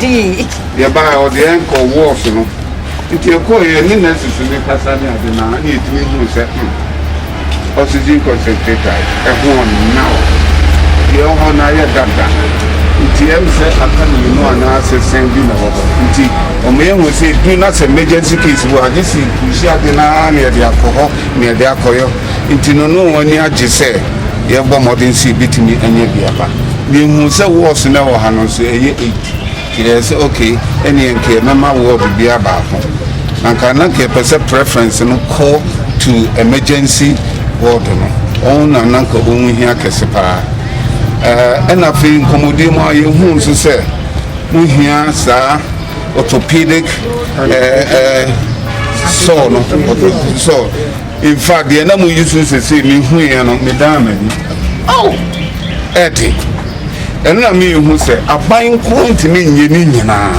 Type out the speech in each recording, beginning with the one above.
dii. yɛbaa ɔde yɛn kɔ wɔɔs no nti ɛkɔɔ yɛn ne nɛɛsesi ne kasa ne ade na ne yɛtumi hu sɛ hmm, oxygen concentrators ɛho now deɛ ɛwɔ hɔ no ayɛ dada nti ɛm sɛ aka mmienu anaasɛ sɛn bi na ɛwɔ hɔ nti wɔn yɛ hu sɛ edu na sɛ emergency case wɔ agye si kusi ade na na yɛde akɔ hɔ na yɛde akɔyɔ nti no no wɔn ani agye sɛ yɛbɔ mmɔden sɛ ebetumi anya bi aba na ehu sɛ wɔɔso na ɛwɔ ha no nso ɛyɛ eight. Yɛɛ sɛ ok ɛneɛ nka yɛbɛma ward biaa baako na nka na nka yɛpɛ sɛ preference no kɔ to emergency ward no ɔho na na nka ɔho hia kɛse paa ɛna afei nkɔmmɔdie mu a yɛhuu nso sɛ mo hia saa orthopedic ɛɛ ɛɛ sɔɔ no sɔɔ In fact deɛ na mo yi so sese me hu yɛ no me dan m'ani aw ɛde ɛno na me hu sɛ aban nko ntumi nyɛ ne nyinaa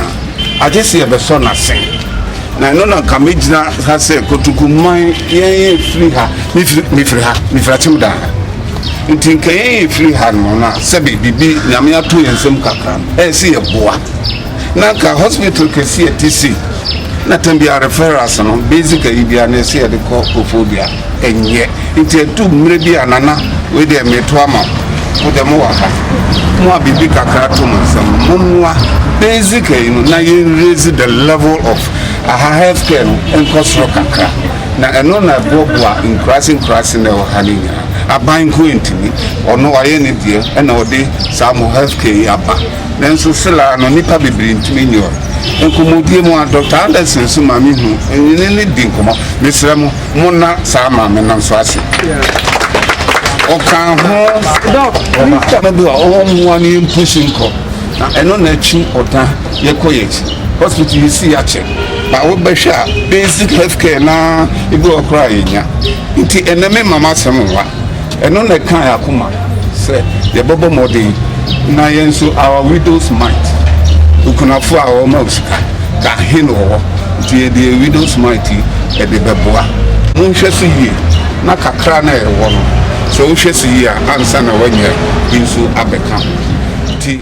agye sɛ yɛbɛsɔ n'asen na ɛno na nka megyina ha sɛ kotoku man yɛn yɛ firi ha me firi ha me firi akyem dan ha nti nka yɛn yɛ firi ha no na sɛbe biribi nyame ato yɛn nsam kakra ɛsɛ yɛboa na nka hospital kɛse a ɛte sei na tam biara referrals no basic ayi biara na ɛsɛ yɛde kɔ kofo dua ɛnyɛ nti ɛtu mmerɛ bi a nana wei deɛ meto ama wo dɛ mowɔ ha mo a biribi kakra to mo nsɛm mommoa basic ayi no na yɛn raise the level of aha health care no nkɔ soro kakra na ɛno na ɛboaboa nkuraase nkuraase na ɛwɔ ha no nyinaa aban nko ntumi ɔno wayɛ ne deɛ ɛna ɔde saa mo health care yi aba Nanso Sela ara no, nnipa bebree ntumi nni hɔ. Nkɔmmɔdie mu ara, Dɔkta Anderson nso ma me hu ne ne di nkɔmmɔ. Mesrɛ mo, monna saa maame no nso ase. Ɔka ho no bi a ɔmmoa no yɛmpusi nkɔ, na ɛno na akyi ɔda yɛkɔ yɛn akyi. Hospital yɛsi yɛakyɛ, na wobɛhwɛ a basic health care na ebi wɔ koraa yɛnya. Nti ɛnɛ mema m'asɛm nwa. Ɛno na ɛka yɛn akoma sɛ yɛbɛbɔ mmɔden na yɛn nso our widows mite, okunafoɔ a wɔma wo sika ka he na wɔwɔ, nti yɛde yɛn widows mite yi yɛde bɛboa. Monhwɛ so yie na kakra no a yɛwɔ no, sɛ wohwɛ so yie a, ansa na woanya bi nso abɛka ho.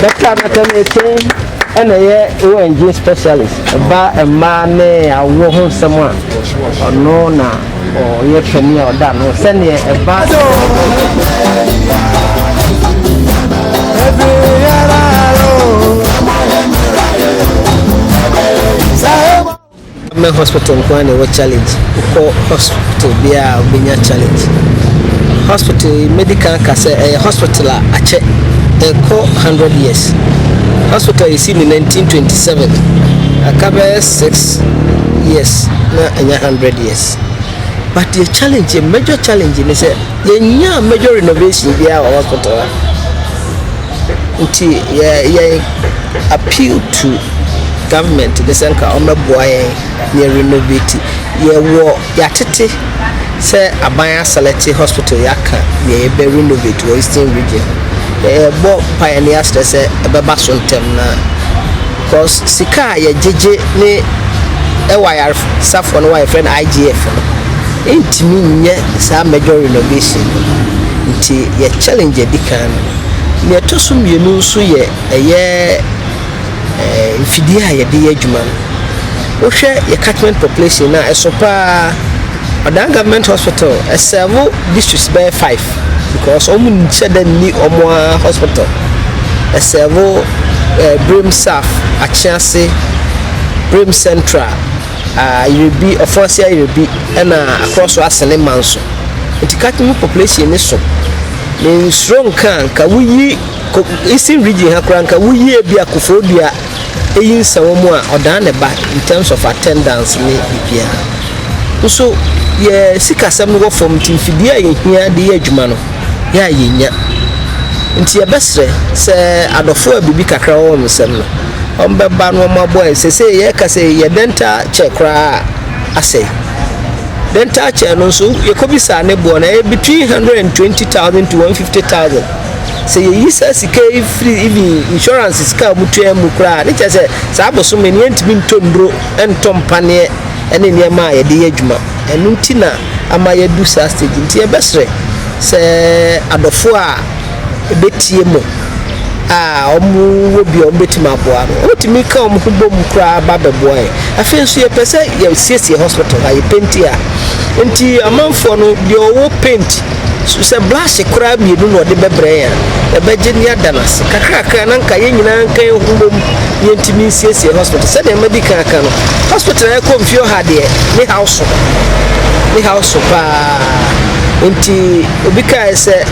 Dɔkta Nathan Etienne ɛna ɛyɛ ONG specialist ɛba mmaa ne awoɔ ho nsɛm a ɔno na ɔyɛ panin a ɔda no sɛdeɛ ɛba. Government hospital nko ara na ɛwɔ challenge wokɔ hospital biara a wobɛnya challenge hospital yi mɛdi kan ka sɛ ɛyɛ hospital a akyɛ ɛkɔ 100 years hospital yɛsi ne 1927 aka bɛyɛ 6 years na ɛnyɛ 100 years but yɛ challenge yɛ major challenge ne sɛ yɛnyaa major renovation biara wɔ hospital a Ntsi yɛ yɛn appeal to government ne sɛ nka ɔmbɛboa yɛn na yɛ renovate. Yɛwɔ yɛatsetse sɛ aban aselɛkye hospital yi aka nea yɛbɛ renovate wɔ eastern region. Yɛbɔ mpae na yɛserɛ sɛ ɛbɛba so ntsɛm no ara cos sika a yɛgyegye ne wɔ ayarsafo no hɔ a yɛfrɛ no IGF no nntumi nnyɛ saa major renovation no. Ntsi yɛ challenge a edi kan no Nea ɛtɔ so mmienu nso yɛ ɛyɛ mfidie a yɛde yɛ adwuma no. Wohwɛ yɛ catchment population no a, ɛso paa. Ɔdan government hospital ɛsɛvo districts bɛyɛ five because wɔn nhyɛ da nni wɔn ara hospital. Ɛsɛvo eh, Brem South, Akyease, Brem Central, ah, Yerebi, Ɔfɔnase Yerebi, ɛna Akorɔso Asene Manso. Nti catchment population no so. Mensuro nka a nka woyi ko Eastern region ha koraa nka woyi ebia Kufuor dua eyi nsa wɔ mu a ɔdan ne ba in terms of attendance ne biribiara. Nso yɛ sikasɛm no wɔ fam nti mfidie a yɛhia de yɛ adwuma no yɛ a yɛnnya. Nti yɛbɛsrɛ sɛ adɔfoɔ a biribi kakra wɔ wɔn nsam no wɔn bɛba na wɔn aboa yɛn. Sesei yɛka sɛ yɛ dental chair koraa asɛe. dental chair no nso yɛkɔbisaa ne boɔ no ɛyɛ between hundred and twenty thousand to one fifty thousand sɛ yɛyi saa sika yi firi even insurance sika a wɔtua mu koraa ne kyɛ sɛ saa bosome no yɛntumi ntɔ nnuro ntɔ mpaneɛ ne nneɛma a yɛde yɛ adwuma ɛno nti na ama yɛadu saa stage nti yɛbɛsrɛ sɛ adɔfoɔ a bɛtie mo a, wɔwɔ bi a wɔbɛtumi aboa no, wɔtumi ka wɔn ho bom koraa ba bɛboa yɛn. Afei nso yɛpɛ sɛ yɛsiesie hospital ha, yɛpenti a. Nti amanfoɔ no, deɛ ɔwɔ paint, sɛ brush koraa mmienu na ɔde bɛbrɛ yɛn a, yɛbɛgye ne yɛada no ase. Kakrakra na nka yɛn nyinaa nka yɛn ho bom na yɛntumi nsiesie hospital. Sɛdeɛ madi kan aka no, hospital a ɛkɔ mfie ɔha deɛ, ne haw so. Ne haw so paa. Nti obi kae sɛ.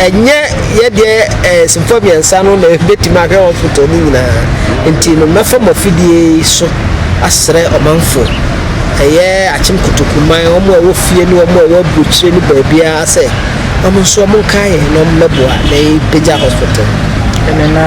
ɛnyɛ yɛdeɛ ɛɛ simfoɔ mmiɛnsa no na ɛbɛtumi ahwɛ hospital no nyinaa nti no mɛfa mo afidie so asrɛ ɔmanfoɔ ɛyɛ akyem kotokuman wɔn a ɛwɔ fie ne wɔn a ɛwɔ aburokyire ne baabiara sɛ wɔn nso wɔn nkae yɛn na wɔn mmɛboa na yɛpagya hospital.